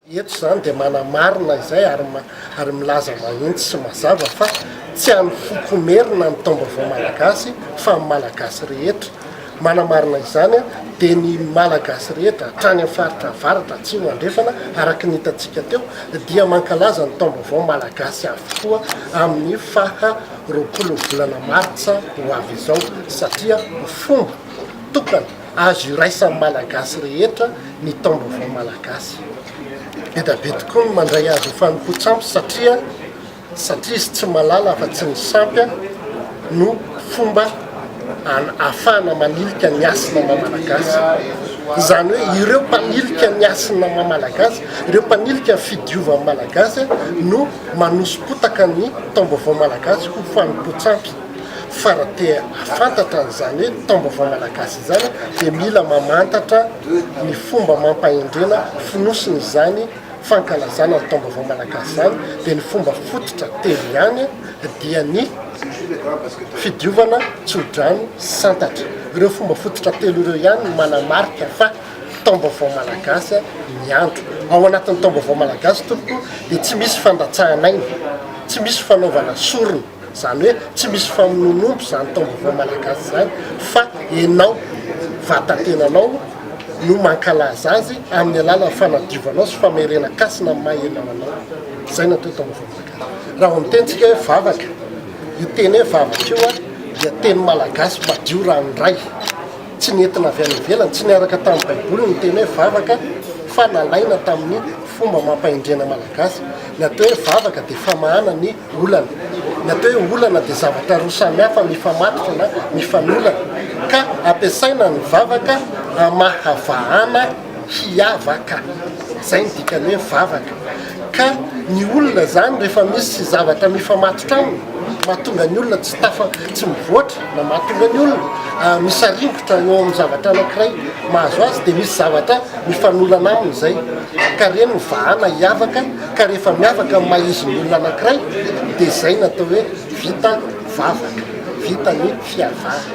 Eto izany dia manamarina izay ary milaza mahitsy sy mazava fa tsy an'ny foko Merina ny taom-baovao malagasy fa an'ny Malagasy rehetra. Manamarina izany dia ny Malagasy rehetra hatrany amin'ny faritra avaratra, atsimo, andrefana araka ny hitantsika teo dia mankalaza ny taom-baovao malagasy avokoa amin'ny faha roapolo ny volana martsa ho avy izao satria fomba tokana Azo iraisan'ny Malagasy rehetra ny taom-baovao malagasy. Be dia be tokoa ny mandray azy ho fanompoan-tsampy satria satria izy tsy malala afa-tsy ny sampy no fomba ahafahana manilika ny hasina maha-malagasy. Izany hoe ireo mpanilika ny hasina maha-malagasy, ireo mpanilika ny fidiovan'ny Malagasy no manoso-potaka ny taom-baovao malagasy ho fanompoan-tsampy. Fa raha te hahafantatra an'izany hoe taom-baovao malagasy izany dia mila mamantatra ny fomba amam-pahendrena fonosiny izany fankalazana ny taom-baovao malagasy izany dia ny fomba fototra telo ihany dia ny fidiovana tsodrano santatra. Ireo fomba fototra telo ireo ihany no manamarika fa taom-baovao malagasy ny andro. Ao anatin'ny taom-baovao malagasy tompoko dia tsy misy fandatsahan'aina, tsy misy fanaovana sorona. Izany hoe tsy misy famonoan'omby izany taom-baovao malagasy izany fa ianao vatan-tenanao no mankalaza azy amin'ny alalan'ny fanadiovanao sy famerenan-kasina amin'ny maha ianao anao. Izay no atao taom-baovao malagasy. Raha vao miteny tsika hoe vavaka, io teny hoe vavaka io an, dia teny malagasy madio ranoray, tsy nentina avy any ivelany, tsy niaraka tamin'ny baiboly ny teny hoe vavaka fa nalaina tamin'ny fomba amam-pahendrena malagasy. Ny atao hoe vavaka dia famahana ny Olana. Ny atao hoe olana dia zavatra roa samihafa mifamatotra na mifanolana, ka ampiasaina ny vavaka hamahavahana hiavaka. Izay ny dikany hoe vavaka. Ka ny olona izany rehefa misy zavatra mifamatotra aminy, mahatonga ny olona tsy tafa, tsy mivoatra, na mahatonga ny olona misaringotra eo amin'ny zavatra anankiray mahazo azy, dia misy zavatra mifanolana aminy izay, ka ireny no vahana hiavaka. Ka rehefa miavaka amin'ny maha izy ny olona anankiray dia izay no atao hoe vita ny vavaka, vita ny fiavahana.